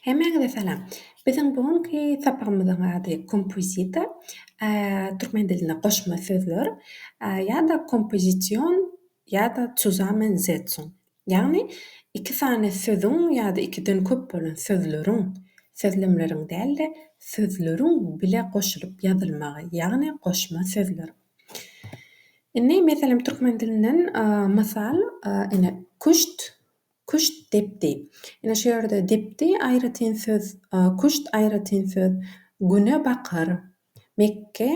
Hemmäňize salam. Biziň bu günki sapagymyzyň ady kompozita, türkmen dilinde goşma sözler, ýa-da kompozision ýa-da zusammen setzung. Ýagny iki sany sözüň ýa-da ikiden köp bolan sözleriň, sözlemleriň däl-de, sözleriň bile goşulyp ýazylmagy, ýagny goşma sözler. Indi meselem türkmen dilinden mysal, ine, küşt. Küşt depdi. Ine şu ýerde depdi aýratyn söz, küşt aýratyn söz, güne bakar, mekge,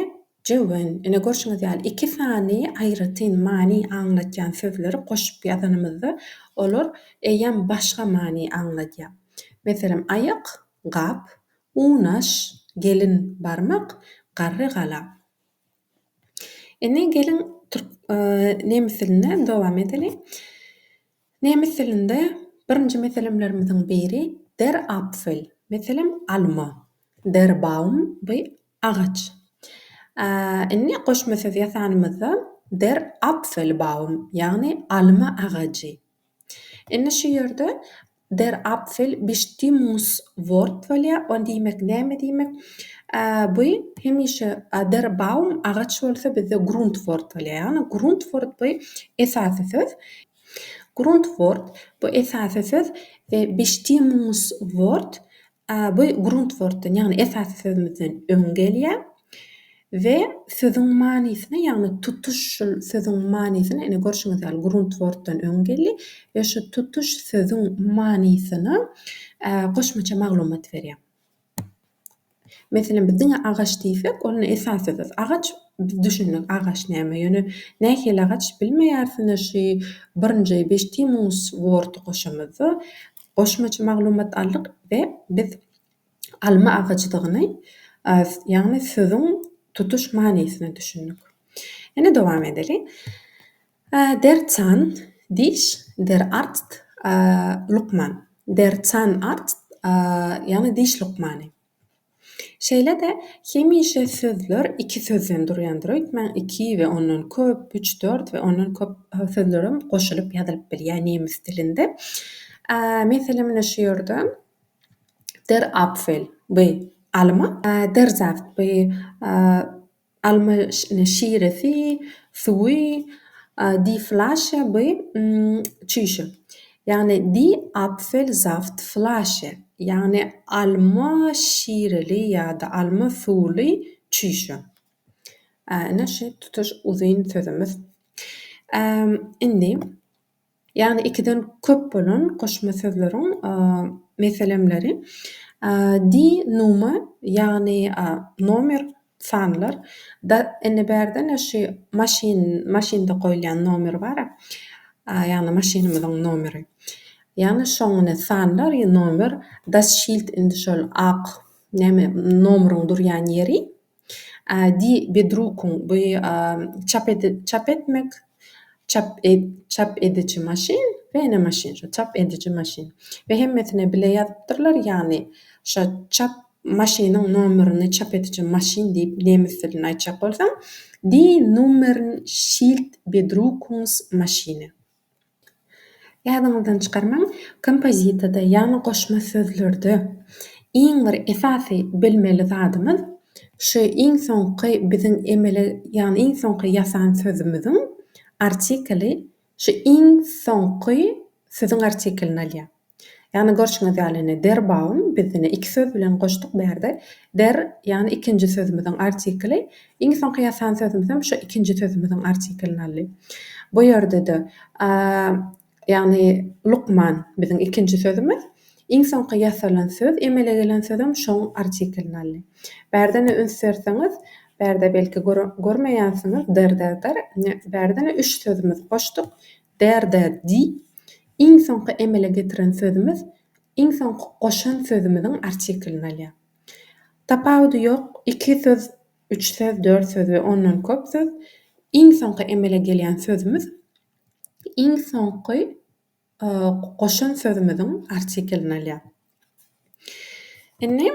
jöwen. Ine görşüňiz ýaly iki sany aýratyn many aňlatýan sözleri goşup ýazanymyzda olar eýýäm başga many aňladýar. Meselem, aýak, gap, unaş, gelin, barmak, garry, gala. Indi geliň nemis dilinde dowam edeliň. Nemes dilinde birinji meselemlerimiziň biri der Apfel, meselem, alma, der Baum, bu agaç. Indi goşma söz ýasanymyzda der Apfelbaum, ýagny alma agajy. Indi şu ýerde der Apfel bistimus wort bolýar, o diýmek näme diýmek? Bu hemişe der Baum agaç bolsa bizde grunt wort bolýar, ýagny grunt wort bu esasy söz. Gruntwort, bu esasy söz, Bestimmungswort, bu gruntwortdan, ýagny esasy sözümizden öň gelýär we sözüň manysyna, ýagny tutuş şol sözüň manysyna, ine, görşüňiz ýaly, gruntwortdan öň geldi we şu tutuş sözüň manysyna goşmaça maglumat berýär. Meselem, biz diňe agaç diýsek, ol esasy zat. Agaç, biz düşündik, agaç näme. Ýöne nähili agaç, bilmeýäris. Ine, şu birinji Bestimus Word-y goşamyzda goşmaça maglumat aldyk we biz alma agajydygyny, ýagny sözüň tutuş manysyna düşündik. Ine, dowam edeliň. Der Zahn, diş, der Arzt, lukman. Der Zahnarzt, ýagny diş lukmany. Şeýle-de, hemişe sözler iki sözden durýandyr. Öýtmäň, iki we ondan köp, üç, dört we ondan köp sözlerem goşulyp ýazylyp bilýär nemes dilinde. Meselem, ine şu ýerde, Der Apfel, bu alma. Der Saft, bu Alma şiresi, suwy, Die Flasche by çüýşe. Ýagny Die Apfelsaft Flasche, ýagny alma şireli ýa-da alma suwly çüýşe. Ine şu tutuş uzyn sözümiz. Indi Ýagny ikiden köp bolan goşma sözleriň meselemleri, di, numa, ýagny nomer, sanlar, da, indi bärde-ne şu maşyn, maşynda goýulýan nomer bar-a, ýagny maşynymyzyň nomeri, ýagny şoň indi sanlar, nomer, das Schild, indi şol ak näme, nomeriň durýan ýeri. Di bedrukuň bu çap çap etmek çap çap ediji maşyn bene maşyn şu çap ediji maşyn we hemmesine bile ýazypdyrlar ýagny şo çap maşynyň nomerini çap ediji maşyn diýip nemes dilinde aýtjak bolsaň Die Nummern schild bedrukungs Maschine. Ýadyňyzdan çykarmaň, kompozitada, ýagny goşma sözlerde iň bir esasy bilmeli zadymyz şu iň soňky biziň emele, ýagny iň soňky ýasan sözümiziň artikeli şu iň soňky sözüň artikelini alýar. Ýagny görşüňiz ýaly indi der Baum biz indi iki söz bilen goşduk bu ýerde der ýagny ikinji sözümiziň artikli iň soňky ýasan sözümizem şu ikinji sözümiziň artiklini aldy. Bu ýerde-de a ýagny lukman biziň ikinji sözümiz iň soňky ýasalan söz emele gelen sözem şoň artiklini aldy. Bärde indi üns berseňiz bärde belki görmeýänsiňiz der der der indi bärde indi üç sözümizi goşduk der der di Iň soňky emele getiren sözümiz iň soňky goşan sözümiziň artiklini alýar. Tapawudy ýok, iki söz, üç söz, dört söz we ondan köp söz, iň soňky emele gelýän sözümiz iň soňky goşan sözümiziň artiklini alýar. Indi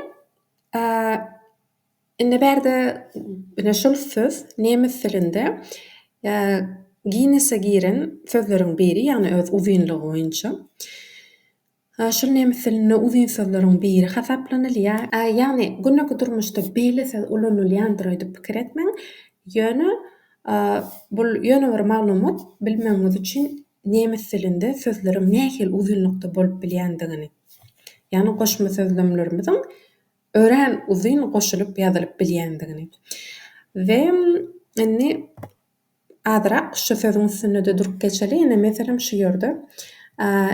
Indi bärde ine şol söz nemes dilinde Ginnese giren sözleriň biri, ýagny öz uzynlygy boýunça. Şol nemes dilinde uzyn sözleriň biri hasaplanylýar. Ýagny gündelik durmuşda beýle söz ulanylýandyr öýdüp pikir etmäň. Ýöne bul ýöne bir maglumat bilmegiňiz üçin nemes dilinde sözleriň nähili uzynlykda bolup bilýändigini. Ýagny goşma sözlemlerimiziň örän uzyn goşulyp ýazylyp bilýändigini we indi azyrak şu sözüň üstünde-de durup geçeli, ine, meselem, şu ýerde,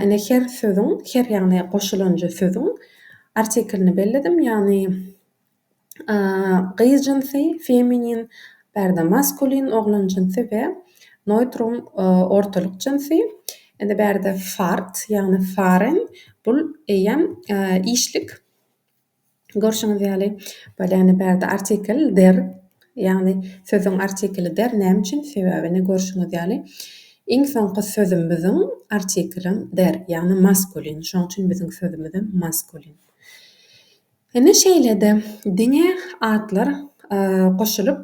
ine, her sözüň, her, ýagny goşulanjy sözüň artiklini belledim, ýagny gyz jynsy, feminin, bärde maskulin, oglan jynsy we noýtrum, ortalyk jynsy, indi bärde fart, ýagny faren, bul eýýäm işlik. Görşüňiz ýaly, Polýana bärde artikl der, ýagny sözüň artikli der. Näme üçin? Sebäbini görşüňiz ýaly, iň soňky sözümiziň artiklim der, ýagny maskulin. Şonuň üçin biziň sözümizem maskulin. Ine, şeýle-de diňe atlar goşulyp,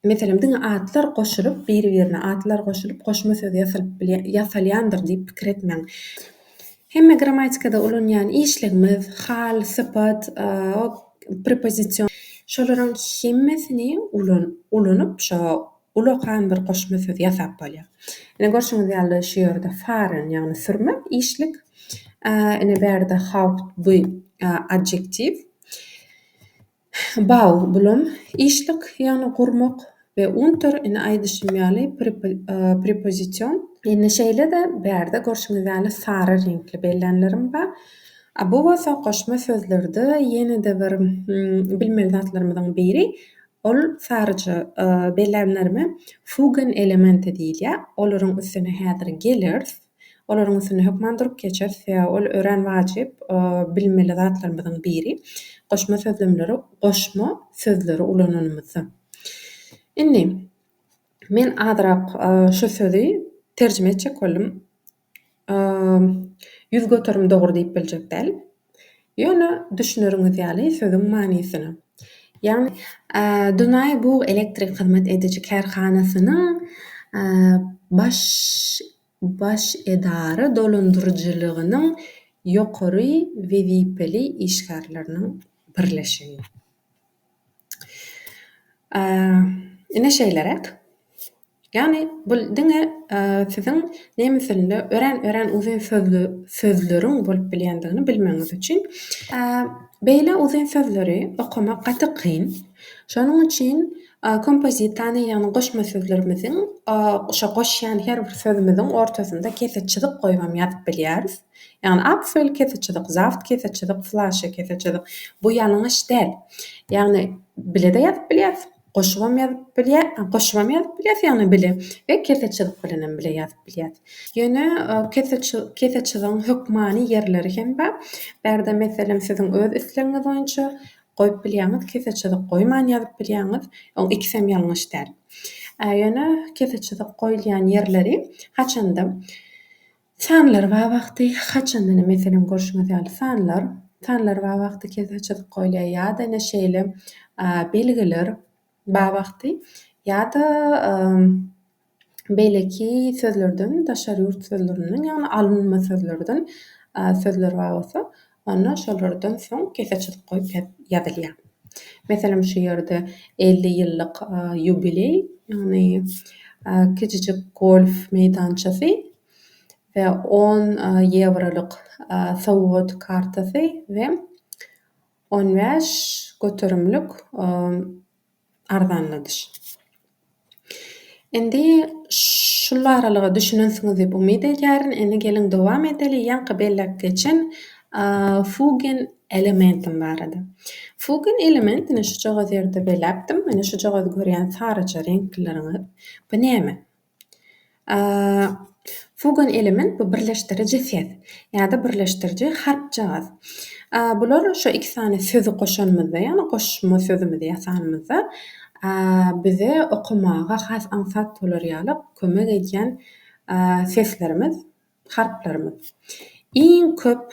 Meselem, diňe atlar goşulyp, biri-birine atlar goşulyp, goşma söz ýasalyp bilýän, ýasalýandyr diýip pikir etmäň. Hemme grammatikada ulanýan işligimiz, hal, sypat, prepozision, şolaryň hemmesini ulan, ulanyp, şo ulakan bir goşma söz ýasap bolýar. Ine, görşüňiz ýaly, şu ýerde fahren, ýagny sürme, işlik. Ine, bärde haupt, bu adjektiw. Bau, bulam, işlik, ýagny gurmak, we unter, ine, aýdyşym ýaly, prepozision. Indi şeýle-de, bärde görşüňiz ýaly sary reňkli bellänlerim bar. A bu bolsa goşma sözlerde ýene-de bir bilmeli zatlarymyzyň biri. Ol saryja bellänlerime fugen elementi diýilýär. Olaryň üstüne häzir geleris. Olaryň üstünde hökman durup geçeris, sebäbi ol örän wajyp bilmeli zatlarymyzyň biri. Goşma sözlemleri goşma sözleri ulananymyzda. Indi, men azyrak şu sözi terjime etjek boldum. Ýüz göterim dogry diýip biljek däl. Ýöne düşüneriňiz ýaly sözüň manysyna. Ýagny. Dunaý bug elektrik hyzmat ediji kärhanasynyň baş baş edara dolandyryjylygynyň ýokary wezipeli işgärleriniň birleşigi. Ine şeýleräk. Ýagny bu diňe siziň nemes dilinde örän örän uzyn sözli sözleriň bolup bilýändigini bilmegiňiz üçin. Beýle uzyn sözleri okamak gaty kyn. Şonuň üçin kompozitany ýagny goşma sözlerimiziň şo goşýan her bir sözümiziň ortasynda kese çyzyk goýubam ýazyp bilýäris. Ýagny apfel kese çyzyk, zaft kese çyzyk, flaşe kese çyzyk. Bu ýalňyş däl. Ýagny bile-de ýazyp bilýäris. Goşubam ýazyp bilýär, goşubam ýazyp bilýär ýagny bile we kese çyzyk bilenem bile ýazyp bilýär. Ýöne kese kese çyzygyň hökmany ýerleri hem bar. Bärde meselem siziň öz islegiňiz boýunça goýup bilýäňiz, kese çyzyk goýman ýazyp bilýäňiz. Oň ikisem ýalňyş däl. Ýöne kese çyzyk goýulýan ýerleri haçanda Sanlar bar wagty haçandan meselem görşüňiz ýaly sanlar sanlar bar wagty kese çyzyk goýulýar ýa-da ine şeýle belgiler bar wagty ýa-da beýleki sözlerden daşary ýurt sözlerinden ýagny alynma sözlerden sözler bar bolsa Onda şolardan soň kese çyzyk goýup ýazylýar. Meselem şu ýerde elli ýyllyk ýubileý, ýagny kiçijik golf meýdançasy we on ýewrolyk sowgat kartasy we on bäş göterimlik arzanladyş. Indi şul aralyga düşünensiňiz diýip umyt edýärin. Indi geliň dowam edeli ýaňky belläp geçen Fugen elementim barada. Fugen elementini şujagaz ýerde beläpdim. Mine şujagaz görýän saryja reňklileriňiz. Bu näme? Fugan element bu birleşdiriji ses ýa-da birleşdiriji harpjagaz. Bular şu iki sany sözi goşanymyzda, ýagny goşma sözümizi ýasanymyzda bize okamaga has aňsat bolar ýaly kömek edýän seslerimiz, harplarymyz. Iň köp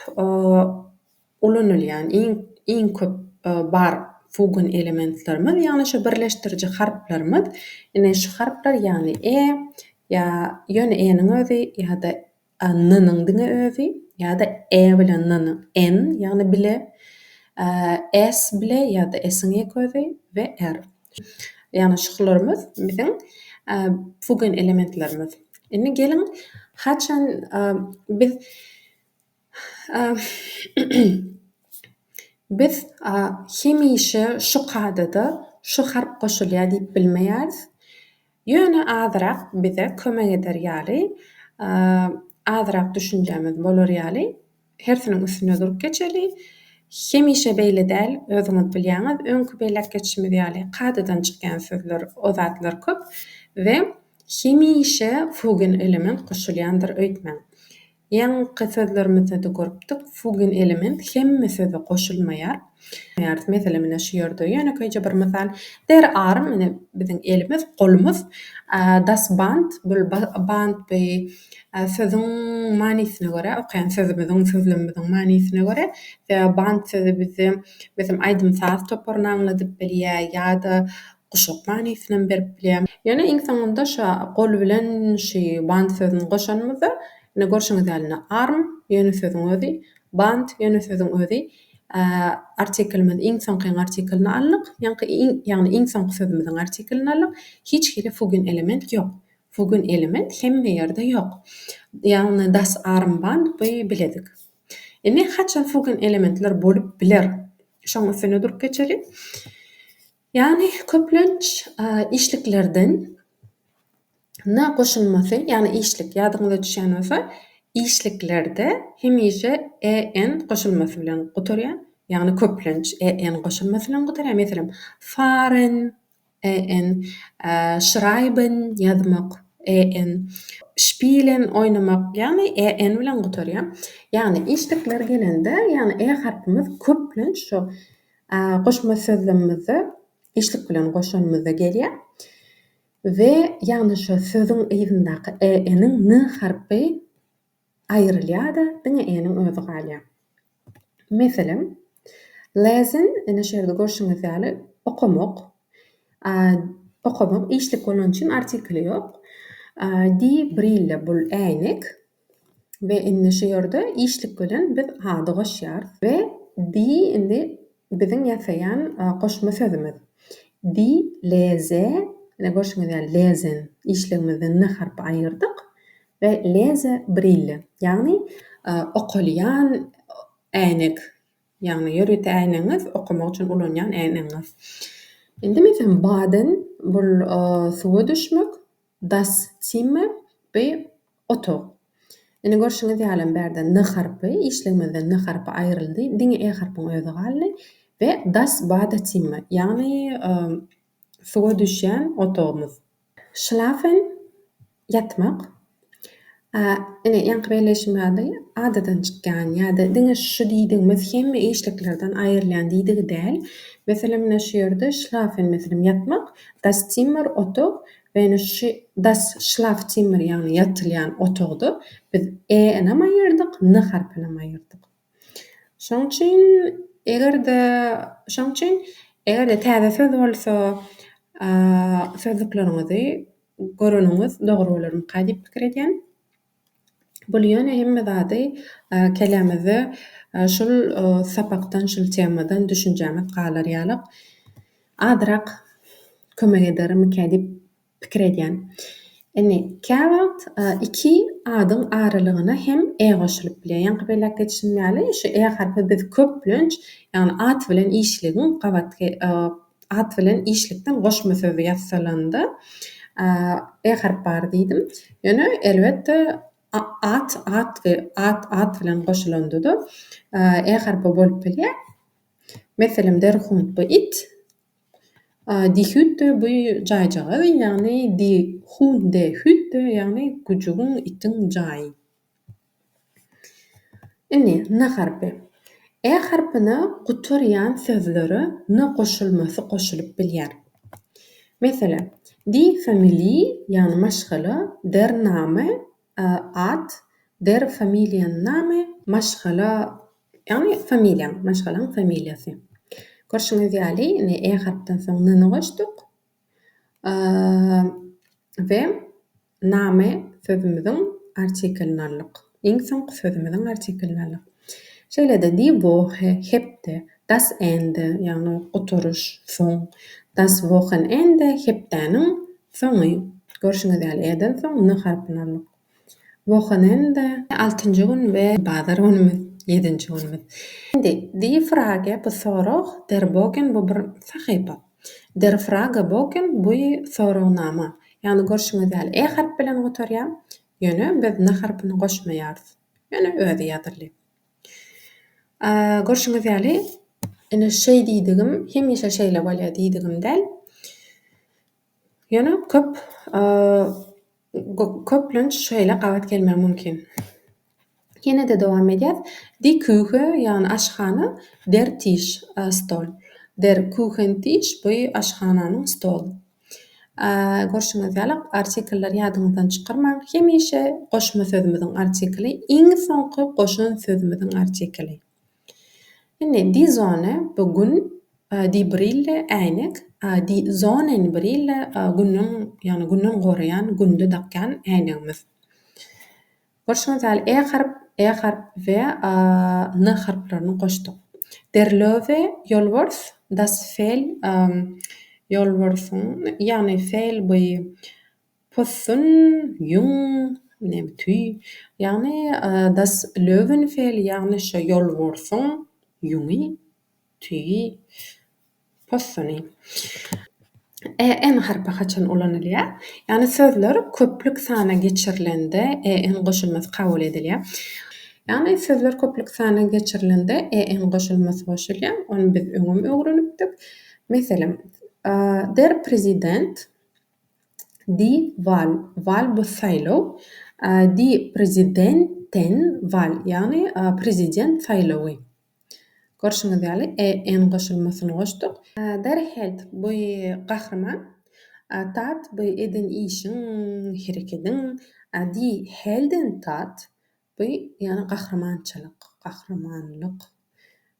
ulanylýan iň köp bar fugon elementlerimiz ýagny şu birleşdiriji harplarymyz ine şu harplar ýagny e ýa ýöne e-niň özi ýa-da n-niň diňe özi ýa-da e bilen n-niň en ýagny bile s bile ýa-da s-iň ýek özi we r ýagny şularymyz biziň fugon elementlerimiz indi geliň haçan biz Biz hemişe şu kadada şu harp goşulýar diýip bilmeýäris. Ýöne azyrak bize kömek eder ýaly, azyrak düşünjämiz bolar ýaly hersiniň üstüne durup geçeli. Hemişe beýle däl, özüňiz bilýäňiz, öňki belläp geçişimiz ýaly kadadan çykýan sözler, o zatlar köp we hemişe fugen element goşulýandyr öýtmäň. Ýaňky sözlerimizde-de görüpdik, fugin element hemme söze goşulmaýar. Mesele menä şu ýerde. Ýönekeýje bir mysal, der arm, ine, biziň elimiz, golumyz, das Band, bul band bi sözüň manysyna görä, okaýan sözümiziň, sözlemimiziň manysyna görä, sebäbi band sözi bize, meselem, aýdym-saz toparyny aňladyp bilýär ýa-da Guşak manysyny berip bilýär. Ýöne iň soňunda şa gol bilen şy band sözüni goşanymyzda, ine görşüňiz ýaly indi arm ýöne sözüň özi, band ýöne sözüň özi artiklimizi iň soňky artiklini aldyk, ýaňky iň ýagny iň soňky sözümiziň artiklini aldyk. Hiç hili fugin element ýok. Fugin element hemme ýerde ýok. Ýagny das arm band bi biledik. Indi haçan fugin elementler bolup biler? Şoň üstünde durup geçeli. Ýagny köplenç işliklerden na goşulmasy, ýagny işlik, ýadyňyza düşýän bolsa, işliklerde hemişe EN goşulmasy bilen gutarýar, ýagny köplenç EN goşulmasy bilen gutarýar, meselem, fahren, EN, schreiben, ýazmak, EN, spielen, oýnamak, ýagny EN bilen gutarýar. Ýagny işlikler gelende, ýagny E harpymyz köplenç şo Goşma sözlemimizde işlik bilen goşanymyzda gelýär we ýagny şo sözüň yzyndaky e-niň ny harpy aýrylýar-da, diňe e-niň özi galýar. Meselem, lezin, ine şu ýerde görşüňiz ýaly, okamak, okamak işlik bolany üçin artikli ýok. Di brille, bul äýnek, We indi şu ýerde işlik bilen biz ady goşýarys we di indi biziň ýasaýan goşma sözümiz. Di leze, ine görşüňiz ýaly lezen işligimizden n harpy aýyrdyk we leze brille, ýagny okalýan äýnek, ýagny ýörite äýnegiňiz, okamak üçin ulanýan äýnegiňiz. Indi meselem baden, bul suwa düşmek. Das Zimmer, bu otag. Ine, görşüňiz ýalym bärde n harpy, işligimizde n harpy aýryldy, diňe e harpyň özi galdy we Das Badezimmer, ýagny suwa düşýän otagymyz. Schlafen, ýatmak. A, ine, ýaňky belleýşim ýaly, adadan çykýan ýa-da diňe şu diýdigimiz hemme işliklerden aýrylýan diýdigi däl. Meselem, ine, şu ýerde schlafen, meselem, ýatmak, das Zimmer, otag, we ine şu das Schlafzimmer, ýagny ýatylýan otagda biz e-ä ynam aýyrdyk, n harpynam aýyrdyk. Şoň üçin, eger-de, şoň üçin, eger-de täze söz bolsa, sözlükleriňizi göreniňiz dogry bolarmyka diýip pikir edýän. Bul ýöne hemme zady kellämizde şul sapakdan, şul temadan düşünjämiz galar ýalyk, azyrak kömek edermikä diýip. pikir edýän. Indi käwagt iki adyň aralygyna hem e goşulyp bilýär. Ýaňky belläp geçişim ýaly, şu e harpy biz köplenç, ýagny at bilen işligiň gabatky at bilen işlikden goşma sözi ýassalanda e harp bar diýdim. Ýöne elbetde at at we at at bilen goşulanda-da e harpy bolup bilýär. Meselem, derhunt bu it, Dihüt de bu jaýjagaz, ýagny Dihun de Hüt de, ýagny güjügiň, itiň jaýy. Indi na harpy. Ä harpyna gutarýan sözlere na goşulmasy goşulyp bilýär. Meselem, Die Familie, ýagny maşgala, der Name, Ad, der Familienname, maşgala, ýagny familiýaň, maşgalaň familiýasy. Görşüňiz ýaly, indi e harpdan soň n-ni goşduk we name sözümiziň artiklini aldyk. Iň soňky sözümiziň artiklini aldyk. Şeýle-de die Woche, hepde, Das Ende, ýagny Gutaryş, soň, Das Wochenende, hepdäniň soňy. Görşüňiz ýaly, e-den soň n harpyny aldyk. Wochenende. Altynjy gün we bazar günümiz, ýedinji günümiz. Indi, Die Frage, bu sorag, Der Bogen, bu bir sahypa. Der Fragebogen, bu soragnama. Ýagny, görşüňiz ýaly, e harpy bilen gutarýar, ýöne biz n harpyny goşmaýarys. Ýöne özi ýazyldy. Görşüňiz ýaly, ine şeý diýdigim hemişe şeýle bolýar diýdigim däl. Ýöne köp köplenç şeýle gabat gelmegi mümkin. Ýene-de dowam edýär. Die Küche, ýagny aşhana, der Tisch, stol. Der Küchentisch, bu aşhananyň stoly. Görşüňiz ýaly, artikelleri ýadyňyzdan çykarmaň. Hemişe goşma sözümiziň artikeli, iň soňky goşan sözümiziň artikeli. Indi Die Sonne, bu gün, die Brille, äýnek, die Sonnenbrille, günden, ýagny günden goraýan, günde dakýan äýnegimiz. Görşüňiz ýaly, e harp, e harp we a, n harplaryny goşduk. Der Löwe, ýolbars, das Fel, ýolbarsyň, ýagny Fel bu possun, ýüň, neme, tüý, ýagny das Löwenfel, ýagny şo ýolbarsyň ýüňi, tüýi, Possony. E, en harpy haçan ulanylýar? Ýagny sözler köplük sana geçirilende e, en goşulmasy kabul edilýär. Ýagny sözler köplük sana geçirilende e, en goşulmasy goşulýar. Ony biz öňem öwrenipdik. Meselem, Der Präsident, Die Wahl, Wahl bu saýlaw, die Präsidenten Wahl, ýagny Prezident saýlawy. Görşüňiz ýaly, EN goşulmasyny goşduk. Berhild, bu gahryman. Tat, bu eden işiň, herekediň. Die Heldentat, bu ýene gahrymançylyk, gahrymanlyk.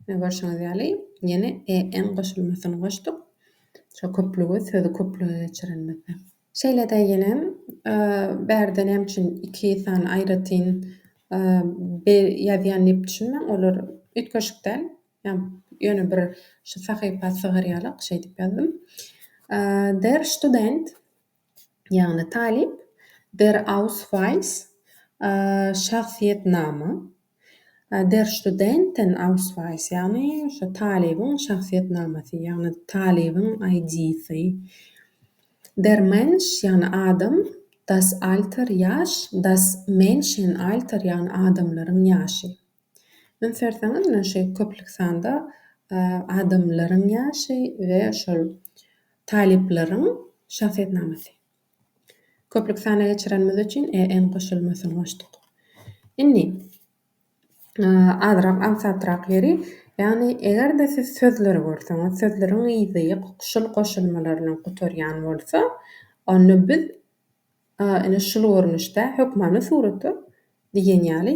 Ine, görşüňiz ýaly, ýene EN goşulmasyny goşduk. Şo köplügi, sözi köplüge geçirenimizde. Şeýle-de ýene bärde näme üçin iki sany aýratyn be ýazýan diýip düşünmäň, olar üýtgeşik däl. Ýöne bir şu sahypa sygarýarlyk şeýdip ýazdym. Der Student, ýagny talyp, Der Ausweis, şahsyýetnama, Der Studenten Ausweis, ýagny şu talybyň şahsyýetnamasy, ýagny talybyň ID-si. Der Mensch, ýagny adam, Das Alter, ýaş, Das Menschenalter, ýagny adamlaryň ýaşy. Ony serseňiz, ine şu köplük sanda adamlaryň ýaşy we şol talyplaryň şahsyýetnamasy. Köplük sana geçirenimiz üçin EN goşulmasyny goşduk. Indi azrak aňsatrak ýeri, ýagny eger-de siz sözleri görseňiz, sözleriň yzy şul goşulmalar bilen gutarýan bolsa, onda biz ine şul görnüşde hökmany surata diýen ýaly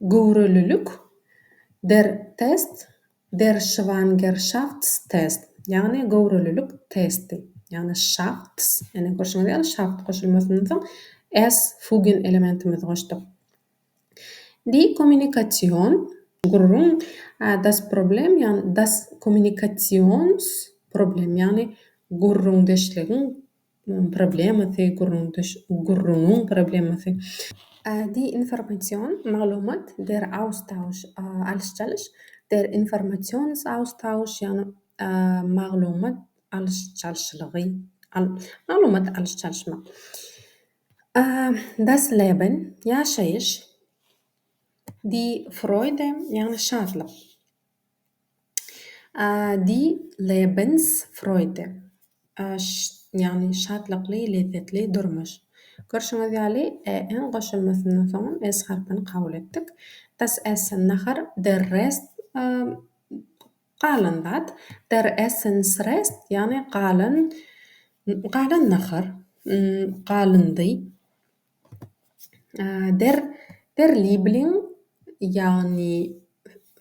Göwrelilik, Der Test, Der Schwangerschaftstest, ýagny göwrelilik testi, ýagny Schafts, ine, görşüňiz ýaly, Schaft goşulmasyndan soň S fugen elementimizi goşduk. Die Kommunikation, gürrüň, Das Problem, ýagny Das Kommunikationsproblem, ýagny gürrüňdeşligiň problemasy, gürrüňiň problemasy. Die Information, maglumat, der Austausch, alyş-çalyş, der Informationsaustausch, ýagny maglumat alyş-çalşylygy, maglumat alyş-çalyşmak. Das Leben, ýaşaýyş. Die Freude, ýagny şatlyk. Die Lebensfreude, ýagny Şatlykly, lezzetli durmuş. Görşüňiz ýaly, e-iň goşulmasyndan soňam s harpyny kabul etdik. Das Essen, nahar, der Rest, galan zat, der Essensrest, ýagny galan, galan nahar, galyndy. Der derliebling, ýagny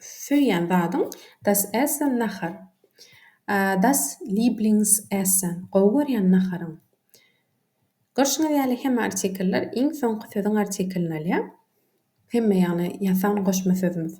söýýän zadyň, das Essen, nahar. Das Lieblingsessen, gowy görýän naharyň. Görşüňiz ýaly, hemme artikellar iň soňky sözüň artikelini alýar. Hemme ýagny ýasan goşma sözümiz.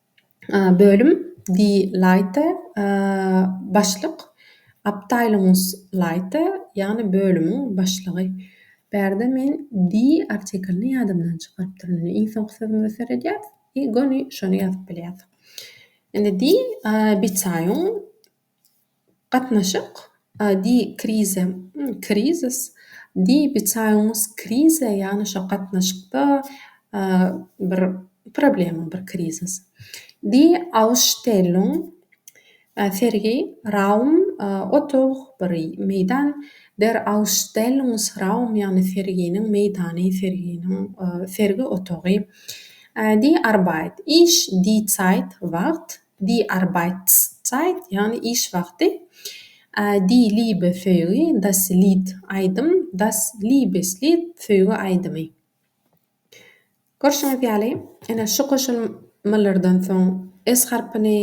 Bölüm Die Leite Başlyk Abteilungsleite ýagny bölümiň başlygy. Bärde men die artiklini ýadymdan çykarypdyryn. Indi iň soňky sözümize seredýäs i göni şony ýazyp bilýäs. Indi die Bezeýung Gatnaşyk, a, di, krize, krizis, di, bicaýuňuz krize, ýagny şo gatnaşykda, a, bir problema, bir krizis. Di, ausstellung, a, sergi, raum, a, otag, bir meýdan, der ausstellungsraum, ýagny serginiň meýdany, serginiň, a, sergi otagy. A, di, arbeit, iş, di, zeit, wagt. Die Arbeitszeit, ýagny iş wagty, Die Liebe söýgi, Das Lied aýdym, Das Liebeslied söýgi aýdymy. Görşüňiz ýaly, ine, şu goşulmalardan soň s harpyny,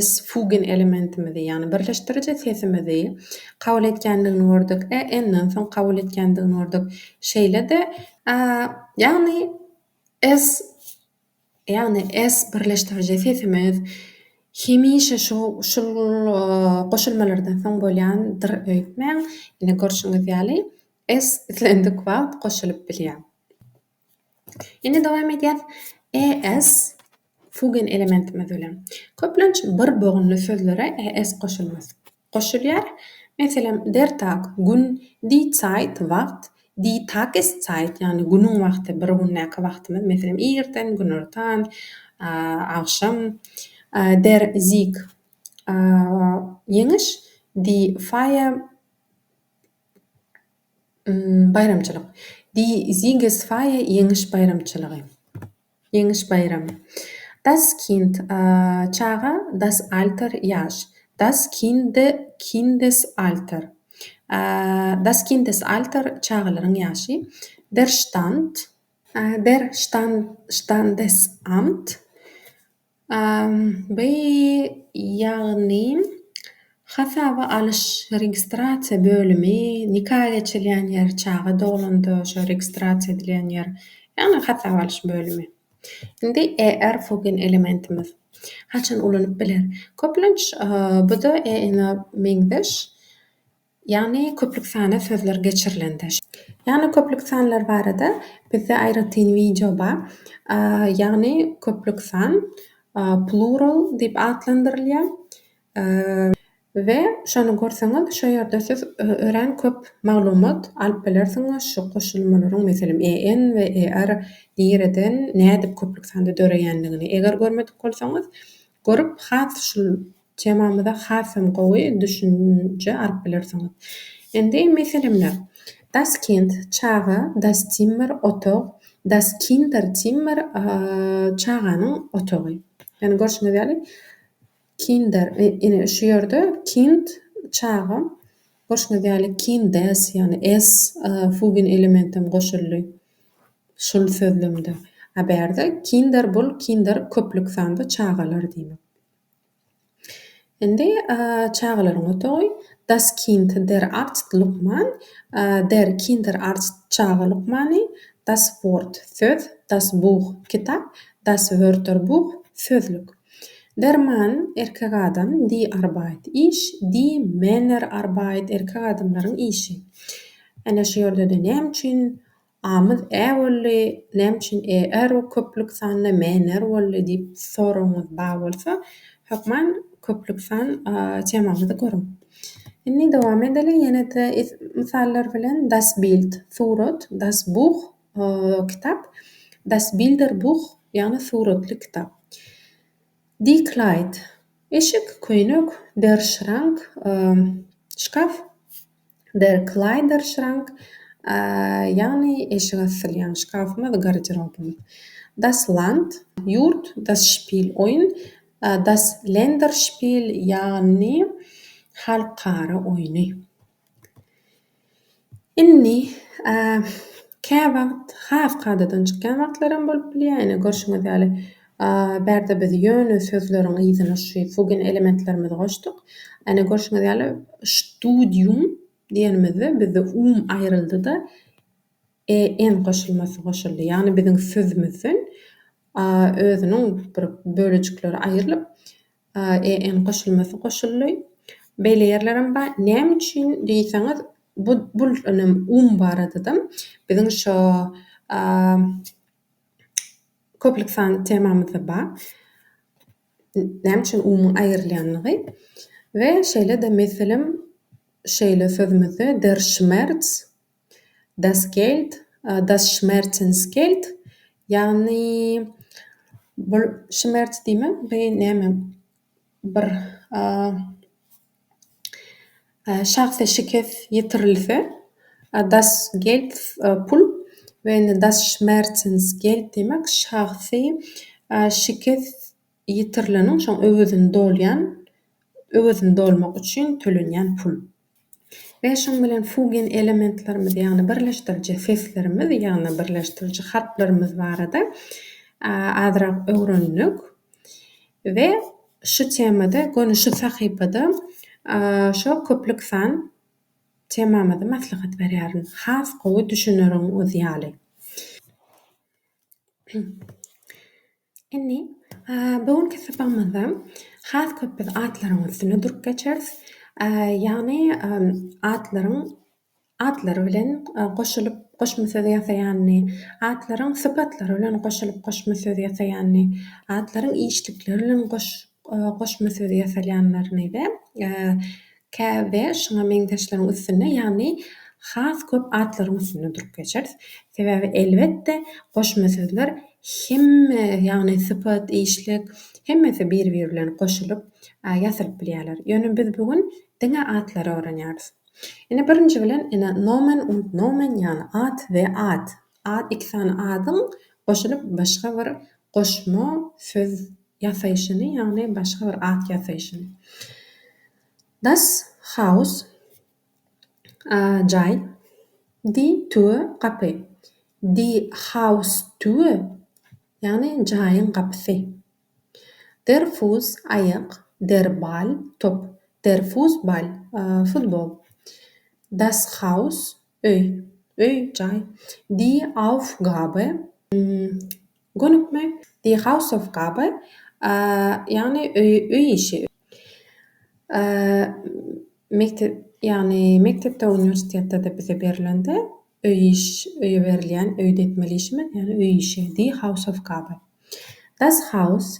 s fugen elementimizi, ýagny birleşdiriji sesimizi kabul etýändigini gördük. E, n-den soň kabul etýändigini gördük. Şeýle-de, ýagny s. Ýagny S birleşdiriji sesimiz hemişe şu şul goşulmalardan soň bolýan dyr öýtmäň. Ine görşüňiz ýaly S islendik wagt goşulyp bilýär. Indi dowam edýäs ES fugen elementimiz bilen. Köplenç bir bogunly sözlere ES goşulmaz. Goşulýar. Meselem, der Tag, gün, die Zeit, wagt, die Tageszeit, ýagny günüň wagty, bir gündäki wagtymyz, meselem, irden, günortan, agşam, der Sieg, ýeňiş, die Feier, baýramçylyk, die Siegesfeier, ýeňiş baýramçylygy. Ýeňiş baýramy. Das Kind, çaga, das Alter, ýaş. Das Kinde, Kindesalter. Das Kindesalter, çagalaryň ýaşy. Der Stand. Der Standesamt, By ýagny hasaba alyş registrasiýa bölümi, nika geçilýän ýer, çaga doglanda şo registrasiýa edilýän ýer, ýagny hasaba alyş bölümi. Indi ER fugin elementimiz haçan ulanyp biler? Köplenç bu-da EN-a meňzeş. Ýagny köplük sana sözler geçirilende. Ýagny köplük sanlar barada bizde aýratyn wideo bar. Ýagny köplük san plural diýip atlandyrylýar. We şony görseňiz şu ýerde siz örän köp maglumat alyp bilersiňiz şu goşulmalaryň meselem EN we ER nireden nädip köplük sanda döreýändigini eger görmedik bolsaňyz görüp has şul Temamyza hasam gowy düşünje alyp bilersiňiz. Indi meselemler. Das Kind, çaga, das Zimmer, otag, das Kinderzimmer, çaganyň otagy. Ýagny görşüňiz ýaly, Kinder, ine, şu ýerde Kind, çaga, görşüňiz ýaly, Kindes, ýagny es fügen elementem goşuldy şul sözlemde. A bärde Kinder bul, Kinder köplük sanda çagalar diýmek. Indi çagalaryň otagy Das Kind der Arzt lukman Der Kinderarzt çaga lukmany Das Wort söz Das Buch kitap Das Wörterbuch sözlük Der Mann erkek adam Die Arbeit iş Die Männerarbeit erkek adamlaryň işi Ene şu ýerde-de näme üçin Amyz ä bolly, näme üçin e er we köplük sanda me ner bolly diýip soragyňyz ba bolsa, hökman köplük san temamyzy görüň. Indi dowam edeliň, ýene-de es mysallar bilen, Das Bild, surat, Das Buch, kitap, Das Bilderbuch, ýagny suratly kitap. Die Kleid, eşik, köýnek, Der Schrank, şkaf. Der Kleiderschrank, ýagny eşik asylýan şkafymyz, garderobymyz. Das Land, ýurt, Das Spiel, oýun, Das Länderspiel, ýagny halkara oýny. Indi käwagt has kadadan çykýan wagtlaram bolup bilýär. Ine görşüňiz ýaly. A, bärde biz ýöne sözleriň yzyna şu fugen elementlerimizi goşduk. Ene, görşüňiz ýaly, Studium diýenimizde bizde um aýryldy-da, EN goşulmasy goşuldy. Ýagny biziň sözümizden A özüniň bir bölejikleri aýrylyp, EN goşulmasy goşuldy. Beýle ýerlerem bar. Näme üçin diýseňiz, bu, bul ynam um barada-da biziň şo A, Köplük sanly temamyzda bar. Näme üçin umumy aýrylýanlygy we şeýle-de meselem şeýle sözümizde der schmerz, das Geld, das Schmerzensgeld, ýagny bul schmerz diýmek beýni näme? bir şahsa şikes ýetirilse, Das Geld pul we Das Schmerzensgeld diýmek şahsy şikes ýetirileniň şoň öwezini dolýan, öwezini dolmak üçin tölenýän pul. We şuň bilen fugen elementlerimiz ýagny birleşdiriji seslerimiz ýagny birleşdiriji harplarymyz barada azrak öwrendik. We şu temada göni şu sahypada şo köplük san temamyzy maslahat berýärin. Has gowy düşüneriňiz ýaly. Indi bu günki sapagymyzda has köp biz atlaryň üstünde durup geçeris. Ýagny atlaryň atlary bilen goşulyp goşma söz ýasaýanyny, atlaryň sypatlary bilen goşulyp goşma söz ýasaýanyny, atlaryň işlikleri bilen goş goşma sözi ýasalýanlaryny we käbe şuňa meňzeşleriň üstünde, ýagny has köp atlaryň üstünde durup geçeris. Sebäbi, elbetde, goşma sözler hemme, ýagny sypat, işlik, hemmesi bir-biri bilen goşulyp ýasalyp bilýärler. Ýöne biz bu gün diňe atlary öwrenýäris. Ine, birinji bilen, ine, Nomen und Nomen, ýagny at we at. Ad iki sany adyň goşulyp başga bir goşma söz ýasaýşyny, ýagny başga bir at ýasaýşyny. Das Haus, jaý. Die Tür, gapy. Die Haustür, ýagny jaýyň gapysy. Der Fuss, aýak. Der Ball, top. Der Fussball, futbol. Das Haus, Öý, öý, jaý. Die Aufgabe, gönükme, die Hausaufgabe, ýagny öý işi, mekdep, ýagny mekdepde, uniwersitetde-de bize berlende, öý iş, öýe berilýän, öýde etmeli işimiz, ýagny öý işi, die Hausaufgabe. Das Haus,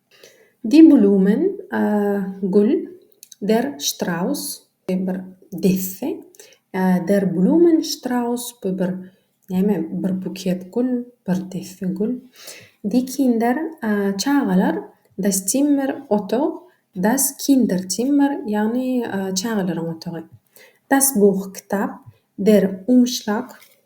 Die Blumen, Gül, Der Straus, bu bir desse, Der Blumenstrauß, bu bir näme, bir buket gül, bir desse gül, Die Kinder, çagalar, Das Zimmer, otag, Das Kinderzimmer, ýagny çagalaryň otagy, Das Buch, kitap, Der Umschlag,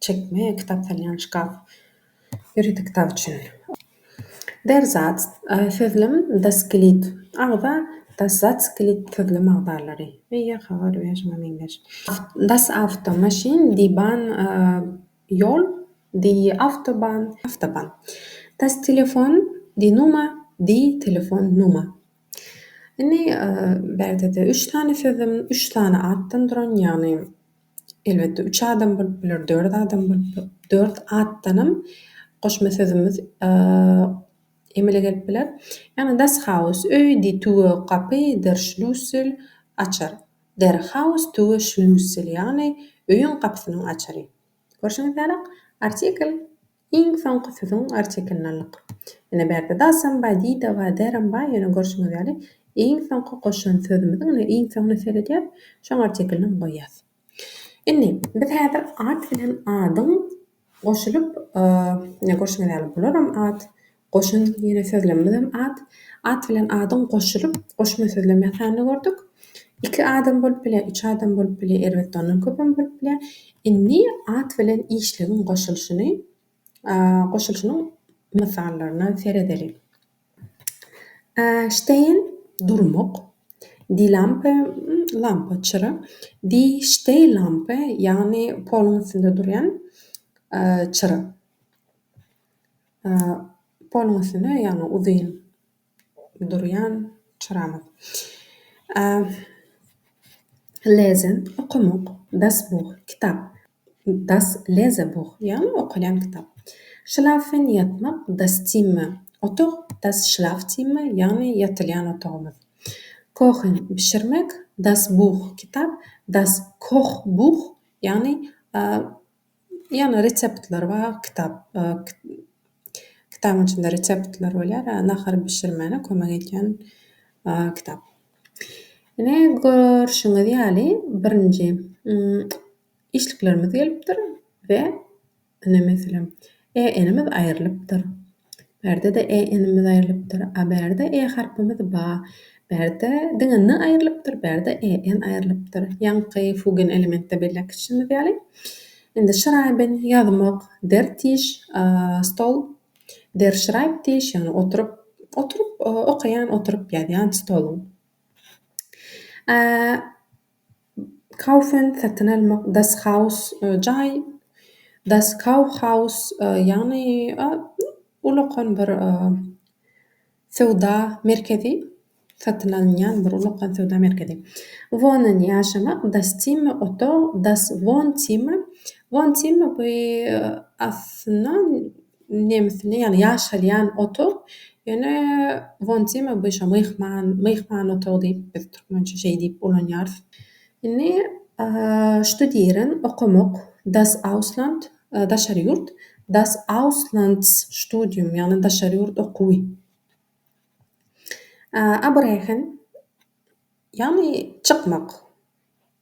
Çekme, kitap salýan şkaf. Ýörite kitap üçin. Derzat, sözlem, daskilit, agza, daszaskilit, sözlem agzalary, eýýe, habar we şuňa meňzeş. Das awto, maşyn, di ban, ýol, di awtoban, awtoban. Das Telefon, di numa, di telefon, numa. Indi bärde-de üç sany sözlem, üç sany atdan duran, ýagny Elbetde üç adam bolup biler, dört adam bolup biler. Dört atdanam goşma sözümiz emele gelip biler. Ýagny das Haus, öý, di Tue, gapy, der Schlüssel, açar. Der Haus Tue Schlüssel, ýagny öýüň gapysynyň açary. Görşüňiz ýaly artikl. Iň soňky sözüň arçekinallyk. Ine bärde dasam Baýdiýdowa därem baý ýöne görşüňiz ýaly iň soňky goşan sözümiziň ine iň soňuna seredýäs şoň arçekinlem goýýas. Indi biz häzir at bilen adyň goşulyp ine görşüňiz ýaly bularam at Goşun diýen sözlemimizem at. At bilen adyň goşulyp, goşma sözlem ýasanyny gördük. Iki adam bolup bilýär, üç adam bolup bilýär, elbetde, ondan köpem bolup bilýär. Indi at bilen işligiň goşulyşyny, goşulyşynyň mysallaryna seredeliň. Steýin, durmak. Die Lampe, lampa, çyra. Die Stehlampe, ýagny poluň üstünde durýan çyra. Poluň üstünde, ýagny uzyn durýan çyramyk. Lesen, okamak, das buh, kitap. Das lese buh, ýagny okalýan kitap. Şlafen, ýatmak, das zimmer, otag, das schlafzimmer, ýagny ýatylýan otagymyz. Kochen, bişirmek, das buh, kitap, das Kochbuch, ýagny Ýagny reseptler bar, kitap, kitabyň içinde reseptler bolýar, nahar bişirmäne kömek edýän kitap. Ine, görşüňiz ýaly, birinji işliklerimiz gelipdir we ine, meselem, e-inimiz aýrylypdyr. Bärde-de e inimiz aýrylypdyr. A bärde e harpymyz ba. Bärde diňe n aýrylypdyr, bärde e n aýrylypdyr. Ýaňky fugen elementde belläp geçişimiz ýaly. Indi şraýben, ýazmak, der tiş, stol, der Schreibtisch, ýagny oturyp, oturyp okaýan, oturyp ýazýan stoluň. Kaufen, satyn almak, Das Haus, jaý, Das Kaufhaus, ýagny ulakan bir söwda merkezi, satyn alynýan bir ulakan söwda merkezi. Wohnen, ýaşamak, Das Zimmer, otag, Das Wohnzimmer, Wohnzimmer, bu aslynda Nemisini ýaly ýaşalýan otag ýöne wontima bu şo myhman myhman otagy diýip biz türkmençe şeý diýip ulanýarys. Indi ştudiren okamak das ausland daşary ýurt das auslands studium ýagny daşary ýurt okuwy. Abrechn ýagny çykmak.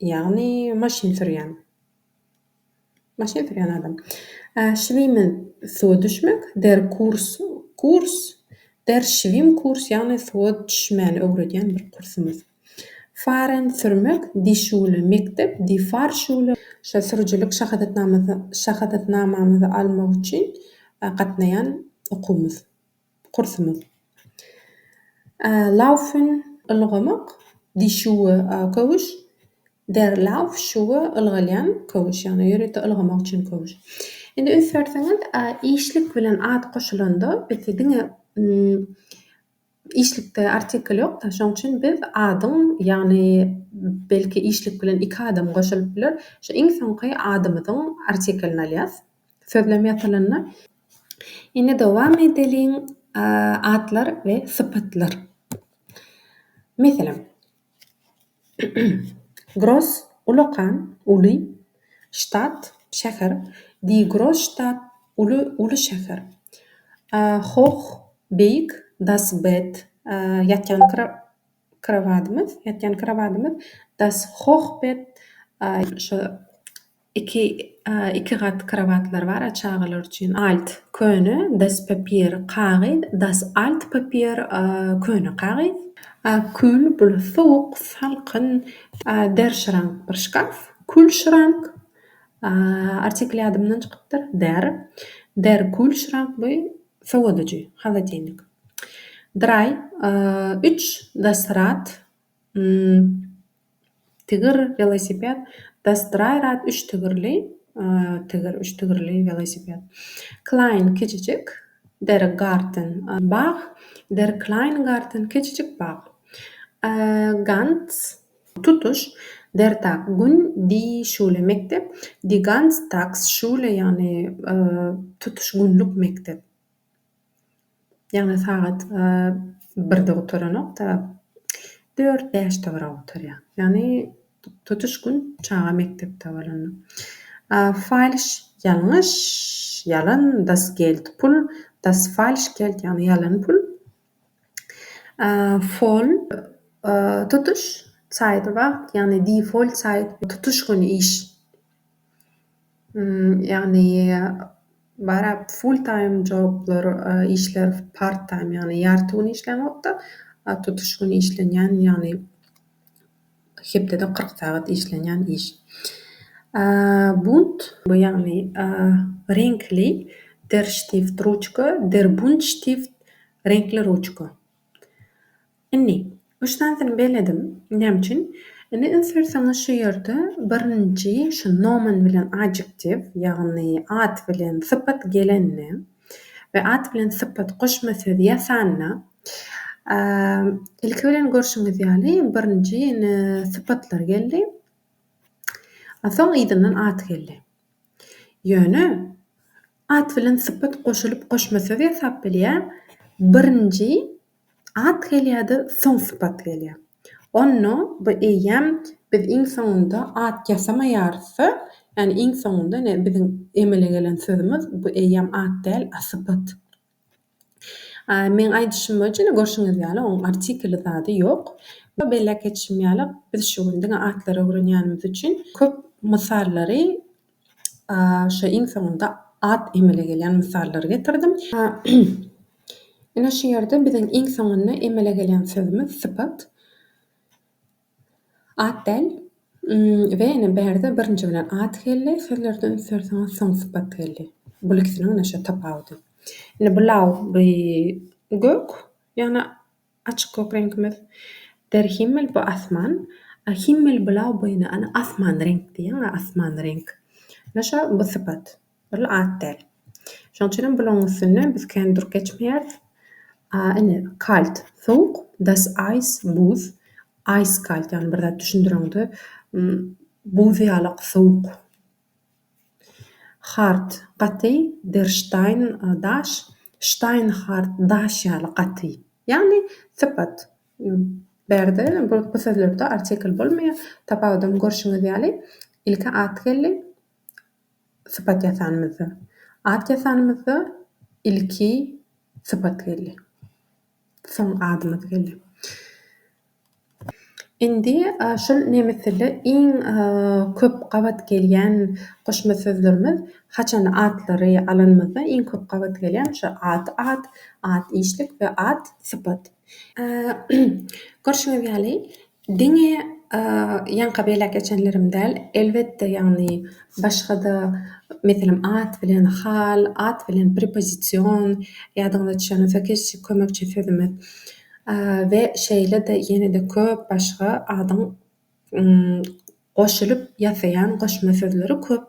Ýagny maşyn sürýän. Maşyn sürýän adam. A şwime suwa düşmek, der kurs, kurs, der şwim kurs ýagny suwa düşmäni öwredýän bir kursumyz. Faren sürmek, di şule mekdep, di far şule. Şa sürüjilik şahadatnamamyzy almak üçin gatnaýan okuwymyz. kursumyz. Laufen, ylgamak, die Schuhe köwüş, der Laufschuhe, ylgalýan köwüş, ýagny ýörite ylgamak üçin köwüş. Indi ünslerseňiz, işlik bilen at goşulanda bizde diňe işlikde artikl ýok-da, şonuň üçin biz adyň, ýagny belki işlik bilen iki adam goşulyp biler, şu iň soňky adymyzyň artiklini alýas. Sözlem ýatylanda. Indi dowam edeliň, Atlar we sypatlar. Meselem. Gross, ulakan, uly, Stadt, şäher, Die Großstadt, uly, uly şäher, Hoch, beýik, Das Bett, ýatýan krowadymyz, ýatýan krowadymyz, Das Hochbett, şo Iki iki gat krowatlar bar çagalar üçin alt köne das papier kagyz das alt papier köne kagyz. Kül bul sowuk salkyn der şrank bir şkaf kül şrank artikel ýadymdan çykypdyr der der kül şrank bu sowadyjy haladenik dry üç das rad Tigir welosiped Dastraýrad üç tigirli tigir üç tigirli welosiped Klein kiçijik Der Garten bag Der kleine Garten kiçijik bag Ganz tutuş Der Tag gün Die Schule mekdep Die Ganztagsschule ýagny tutuş günlük mekdep. Ýagny sagat birde gutaranok-da, dört-bäşde bir-ä gutarýar. Ýagny tutuş gün çaga mekdepde bolanda. Falş, ýalňyş, ýalan, das geld pul, das falsch geld, ýagny ýalan pul. Fol, tutuş, Zeit, wagt, ýagny die voll Zeit, tutuş gün, iş. Ýagny bara full time joblar işler part time ýagny ýarty gün işleňokda tutuş gün işlenýän ýagny hepdede kyrk sagat işlenýän iş. Bunt bu ýagny reňkli der stift ruçka der bunt stift reňkli ruçka. Indi, üç sanysyny belledim. Näme üçin? Indi üns berseňiz şu ýerde birinji şu nomen bilen adjektiw, ýagny at bilen sypat gelende we at bilen sypat goşma söz ýasanda, ilki bilen görşüňiz ýaly birinji indi sypatlar geldi, a soň yzyndan at geldi. Ýöne at bilen sypat goşulyp goşma söz ýasap bilýär, birinji At gelýär-de, soň sypat gelýär. Onda bu eýýäm biz iň soňunda at ýasamaýarys-da, ýagny iň soňunda ine biziň emele gelen sözümiz bu eýýäm at däl, a sypat. A meň aýdyşym boýunça ine görşüňiz ýaly onuň artikeli zady ýok. Bu belläp geçişim ýaly biz şu gün diňe atlary öwrenýänimiz üçin köp mysallary Şu iň soňunda at emele gelýän mysallary getirdim. Ine şu ýerde biziň iň soňunda emele gelýän sözümiz sypat. At däl. We ine bärde birinji bilen at geldi sözlerde üns berseňiz soň sypat geldi. Bul ikisiniň ine şo tapawudy. Ine bulaw gök ýagny Açyk gök reňkimiz. Der Himmel bu asman. A Himmel blau boýny ana asman reňk diýen a asman reňk. Ine şo bu sypat. Ol at däl. Şoň üçin hem bulaň üstünde biz kän durup geçmeýäris. A ine kalt sowuk das eis buz eiskalt ýagny bir zat düşündireňde buz ýalak sowuk Hard, gaty, der Stein, daş, Stein hart, daş ýaly gaty. Ýagny sypat. Bärde bu bu sözlerde artikl bolmaýar. Tapawudyny görşüňiz ýaly, ilki at geldi, sypat ýasanymyzda. At ýasanymyzda ilki sypat geldi. soň adymyz geldi. Indi şul nemes dilde iň köp gabat gelýän goşma sözlerimiz haçanda atlary alanymyzda iň köp gabat gelýän şu at, at, at işlik we at sypat. Görşüňiz ýaly, Diňe ýaňka beýläk geçenlerim däl, elbetde, ýagny başga-da, meselem, at bilen hal, at bilen prepozision, ýadyňyza düşenoksa keşik kömekçi sözümiz we şeýle-de ýene-de köp başga adyň goşulyp ýasaýan goşma sözleri köp.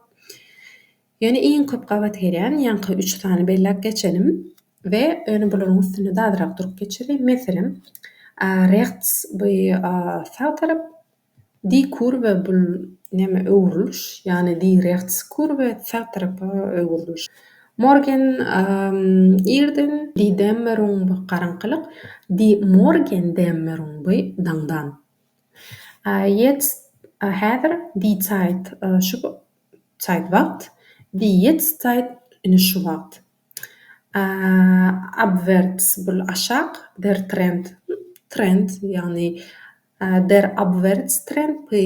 Ýöne iň köp gabat gelýän ýaňky üç sany belläp geçelim we ýöne bularyň üstünde-de azrak durup geçeli. Meselem, rechts bu sag tarap, die Kurve bul näme öwrüliş, ýagny die rechts Kurve sag tarapa öwrüliş. Morgen irden, die Dämmerung bu garaňkylyk, die Morgendämmerung bu daňdan. Ýetst häzir, die Zeit şu Zeit Wagt, wie jetzt Zeit ine şu wagt. A abwärts bul aşak, der Trend trend ýagny der Abwärtstrend bu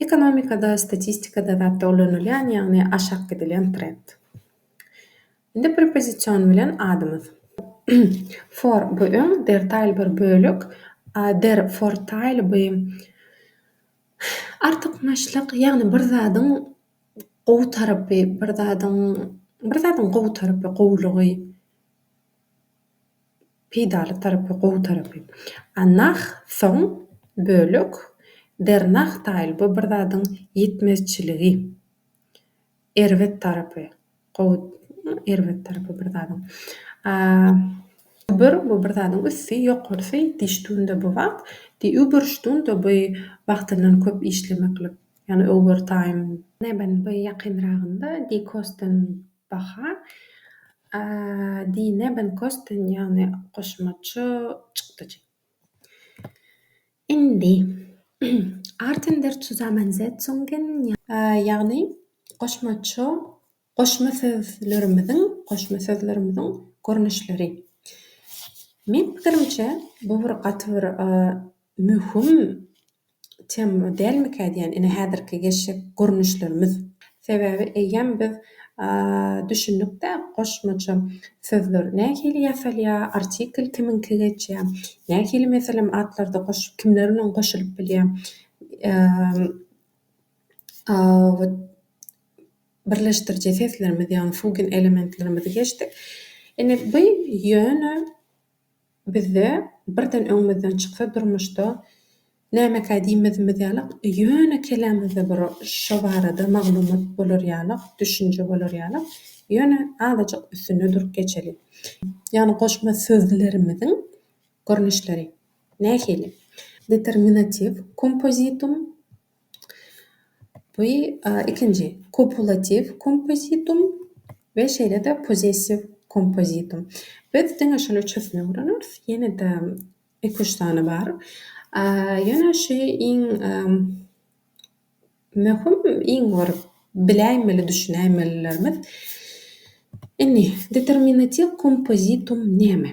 ekonomikada statistikada zatda ulanylýan ýagny aşak gidilýän trend. Indi prepozision bilen adymyz. Vor bu öň der Teil bir bölek. A der Vorteil bu Artykmaçlyk, ýagny bir zadyň gowy tarapy, bir zadyň, bir zadyň gowy tarapy, gowulygy, peýdaly tarapy, gowy tarapy. A nah, soň, bölek, der-nah-taýl, bu bir zadyň ýetmezçiligi. Erbet tarapy, gowy, erbet tarapy bir zadyň. Übür, bu bir zadyň üsti, ýokarysy, diş tunda bu wagt, di übürş tunda by wagtyndan köp işlemeklik, ýagny overtime. Neben by ýakynragynda, di kosten baha, di nebenkosten, ýagny goşmaça çykdajy. Indi, Arten der Zusammensetzungen, ýagny goşmaça goşma sözlerimiziň, goşma sözlerimiziň görnüşleri. Meň pikirimçe, bu bir gaty bir möhüm Temma dälmikä diýän ine häzirki geçjek gurnuşlarymyz. Sebäbi eýýäm biz düşündikdä goşmaça sözler nähili ýasalýar, artikl kimiňki geçýär, nähili meselem atlarda goşup kimler bilen goşulyp bilýär, birleşdiriji seslerimiz ýagny fugen elementlerimizi geçdik. Ine bu ýöne. Bizde birden öňümizden çyksa durmuşda nämekä diýmezimiz ýalyk ýöne kellämizde bir şo barada maglumat bolar ýalyk düşünje bolar ýalyk ýöne azajyk üstünde durup geçeli. Ýagny goşma sözlerimiziň görnüşleri nähili? Determinatiw kompozitum Bu ikinji kopulatiw kompozitum we şeýle-de possessiw kompozitum. Biz diňe şol üçüsini öwreneris, ýene-de iki, üç sany bar. Ýöne şu iň möhüm, iň bir biläýmeli, düşünäýmelilerimiz. Indi determinatiw kompozitum näme?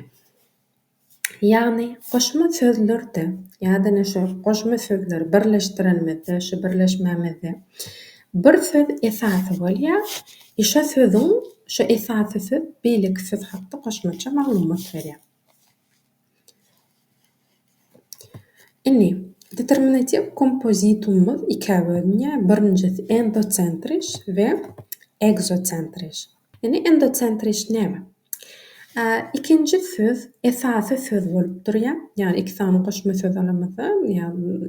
Ýagny goşma sözlerde ýa-da şu goşma sözleri birleşdirenimizde, şu birleşmämizde bir söz esasy bolýar i şo sözüň, şo esasy söz beýleki söz hakda goşmaça maglumat berýär. Indi, determinatiw kompozitumymyz ikä bölünýär, birinjisi endosentriş we ekzosentriş. Indi endosentrist näme? A ikinji söz esasy söz bolup durýar. Ýagny iki sany goşma söz alamyzda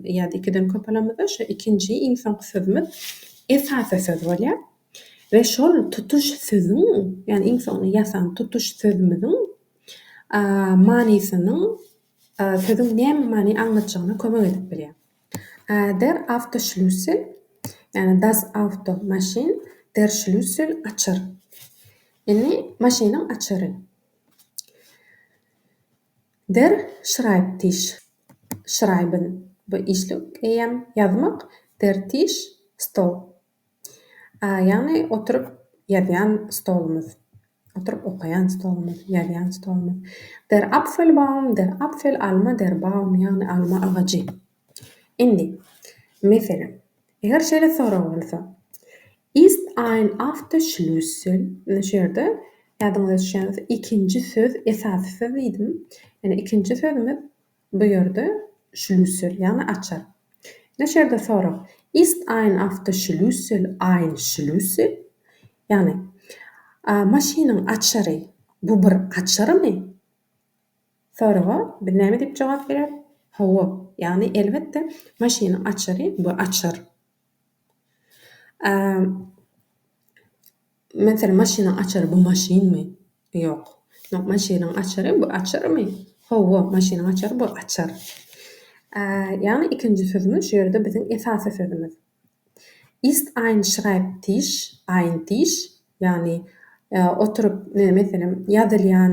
ýa-da ikiden köp alamyzda şu ikinji iň soňky sözümiz esasy söz bolýar we şol tutuş sözüň, ýagny iň soňuna ýasan tutuş sözümiziň manysynyň sözüň näme many aňlatjagyna kömek edip bilýär. Der Awtoschlüssel, ýagny Das Auto, maşyn, Der Schlüssel, açar. Indi maşynyň açary. Der Schreibtisch, schreiben, bu işlik eýýäm, ýazmak, Der Tisch, stol. Ýagny oturyp ýazýan stolumyz, oturyp okaýan stolumyz, ýazýan stolumyz. Der Apfelbaum, der Apfel, alma, der Baum, ýagny alma agajy. Indi, meselem, eger şeýle sorag bolsa, Ist ein after Schlüssel? Indi şu ýerde, ýadyňyza düşýänse, ikinji söz esasy söz diýdim. Ýöne ikinji sözümiz Bu ýerde şlüssel, ýagny açar. Neşe ýerde sorag, Ist ein Awtoschlüssel ein Schlüssel? Ýagny, Maşynyň açary, bu bir açarmy? Soraga biz näme diýip jogap bereris? Hawa, ýagny elbetde, maşynyň açary, bu açar. Meselem, maşynyň açary bu maşynmy? Ýok. Maşynyň açary bu açarmy? Hawa, maşynyň açary bu açar. Ýagny ikinji sözümiz şu ýerde biziň esasy sözümiz. Ist ein schreibtisch, ein Tisch, ýagny oturyp, meselem, ýazylýan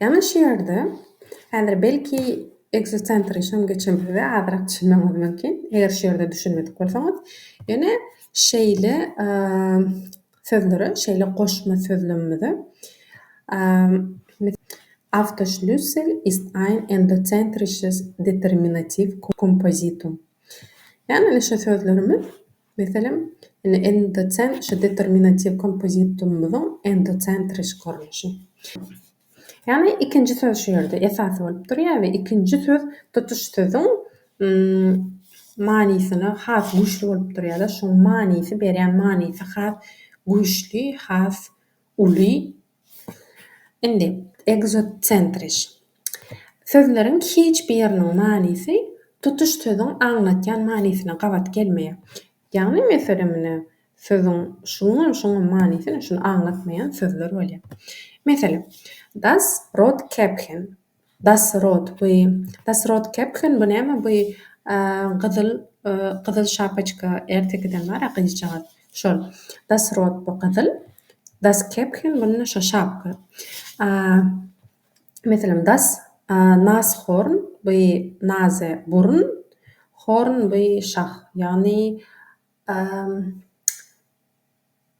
Ýalňyş ýerde häzir belki ekzocentri şoň geçenimizde azyrak düşünmegiňiz mümkin. Eger şu ýerde düşünmedik bolsaňyz, ýöne şeýle sözlere, şeýle goşma sözlemimize Autoschlüssel ist ein endozentrisches Determinativ Kompositum. Ýagny şu sözlerimiz Meselem, indi endocent şu determinatiw kompozitumymyzyň endocentriş görnüşi. Ýagny ikinji söz şu ýerde esasy bolup durýar we ikinji söz tutuş sözüň manysyna has güýçli bolup durýar-da, şoň manysy berýän manysy has güýçli, has Uly, indi, ekzotsentrizm. Sözleriň hiç biriniň manysy tutuş sözüň aňlatýan manysyna gabat gelmeýär. Ýagny, meselem, ine, sözüň şuňam, şuňam manysy ine şuny aňlatmaýan sözler bolýar. Meselem, Das Brot käppchen. Das rot bu das rot kepken bu näme bu gyzyl gyzyl şapaçka ertekiden bara gyzjagaz şol das rot bu gyzyl das kepken bunda şo şapka meselem das nas horn bu naze burun horn bu şah ýagny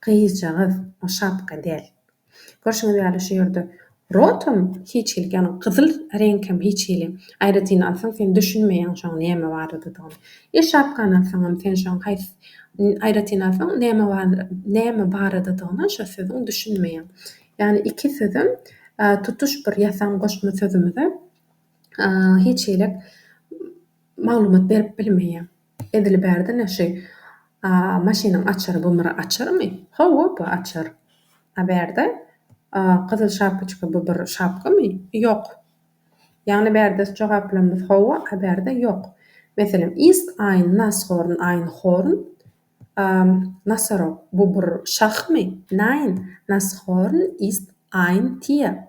Gyzjagaz o şapka däl. Görşüňiz ýaly şu ýerde rotam hiç hili ýagny gyzyl reňk hem hiç hili. Aýratyn alsaň sen düşünmeýäň şoň näme baradadygyny. Il şapkany alsaňam sen şoň haýsy aýratyn alsaň näme barada näme baradadygyna şo sözüň düşünmeýäň. Ýagny iki sözem tutuş bir ýasan goşma sözümize hiç hili maglumat berip bilmeýär. Edil bärdene şu A maşynyň açary bu myra açarmy? Hawa bu açar. A bärde A gyzyl şapkaçka bu bir şapkamy? Ýok. Ýagny bärdes jogaplarymyz hawa A bärde ýok. Meselem ist aýn nas horn aýn horn A nosorog bu bir şahmy? Nein, Nashorn ist ein Tier.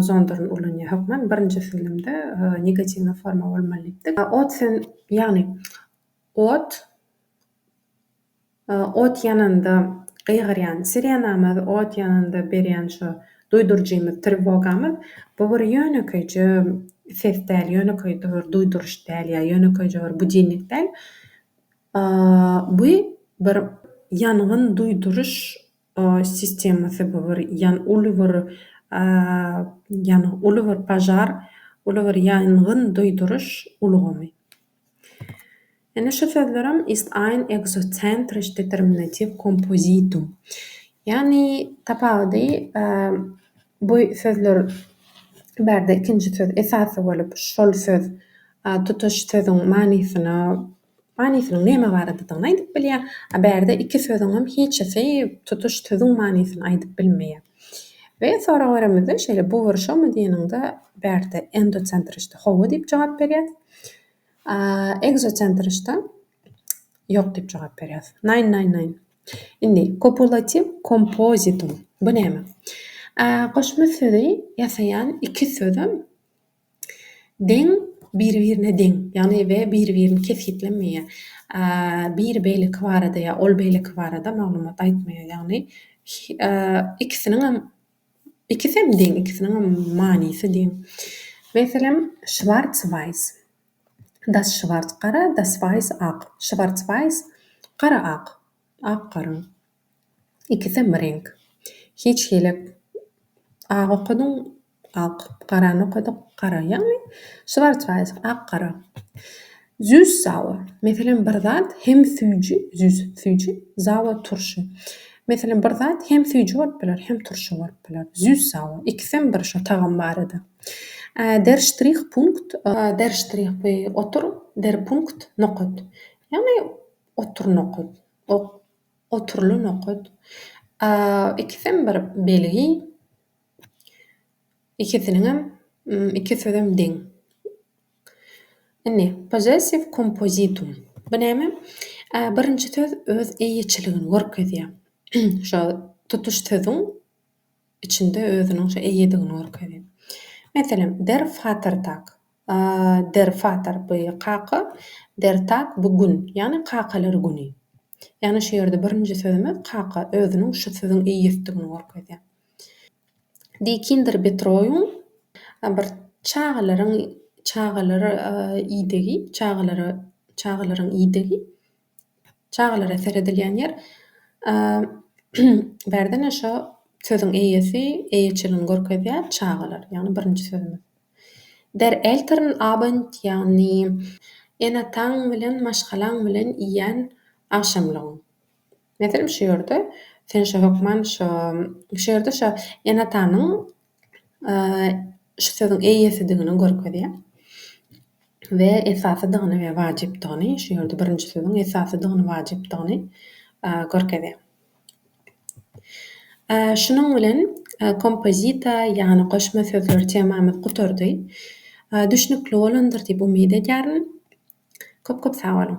zondaryny ulanýar. Hökman birinji süňňünde negatiwnyň forma bolmaly diýipdik. Otsen, ýagny ot, ot ýananda gygyrýan sirenamyz, ot ýananda berýän şo duýduryjymyz, triwogamyz, bu bir ýönekeýje ses däl, ýönekeýje bir duýduryş däl ýa ýönekeýje bir budilnik däl. Bu bir ýangyn duýduryş. sistemasy bu bir ýan uly bir ýan uly bir pažar uly bir ýangyn duýduryş ulgamy. Indi şu sözlerem ist ein exozentrisch determinativ kompozitum. Ýagny tapawudy bu sözler bärde ikinji söz esasy bolup şol söz tutuş sözüň manysyna Manysynyň näme baradadygyny aýdyp bilýär, a bärde iki sözüňem hiçisi tutuş sözüň manysyny aýdyp bilmeýär. We sorag beremizde şeýle bu wyrşawmy diýeniňde bärde endosentrişde hawa diýip jogap berýär, a ekzosentrişde ýok diýip jogap berýär. Nein nein nein. Indi kopulatiw kompozitum bu näme? A goşma sözi ýasaýan iki sözüm. Deň, biri-birine deň, ýagny we biri-birini kesgitlemeýär. Biri beýleki barada ýa ol beýleki barada maglumat aýtmaýar. Ýagny ikisiniňem, ikisem deň, ikisiniňem manysy deň. Meselem, Şwarts waýs, Das Şwarts, gara, Das waýs, ak. Şwarts waýs, gara-ak, ak-gara. Ikisem bir reňk. Hiç hili ak okadyň, ak, garany okadyk, gara. Ýagny şwarcweiss, ak, gara. Süss sauer, meselem, bir zat hem süýji, süss, süýji, sauer, turşy. Meselem, bir zat hem süýji bolup biler, hem turşy bolup biler. Süss sauer, ikisem bir şo tagam barada. Der Strich Punkt, der Strich bu otur, der Punkt nokat. Ýagny otur nokat. Oturyly nokat. Ikisem bir belgi. Ikisiniňem iki sözem deň. Indi possessive kompozitum. Bu näme? Birinji söz öz eýeçiligini görkezýär. Şo tutuş sözüň içinde özüniň şo eýedigini görkezýär. Meselem, der Vatertag. Der Vater by kaka, der Tag by gün, ýagny kakalar güni. Ýagny şu ýerde birinji sözümiz kaka özüniň şu sözüň eýesidigini görkezýär. Die Kinderbetreuung bir çagalaryň çagalar idegi, çagalara çagalaryň idegi. Çagalara seredilýän ýer bärde ne şo sözüň eýesi eýeçiligini görkezýär çagalar ýagny birinji sözümiz. Der eltern abend ýagny ene-ataň bilen maşgalaň bilen iýýän agşamlygyň. Meselem şu ýerde sen şo hökman şo şu ýerde şo ene-atanyň şu sözüň eýesidigini görkezýär we esasydygyny we wajypdygyny, şu ýerde birinji sözüň esasydygyny, wajypdygyny görkezýär. Şunuň bilen kompozisiýa, ýagny goşma sözler temamyz gutardy. Düşnükli bolandyr diýip umyt edýärin. Köp-köp sag boluň!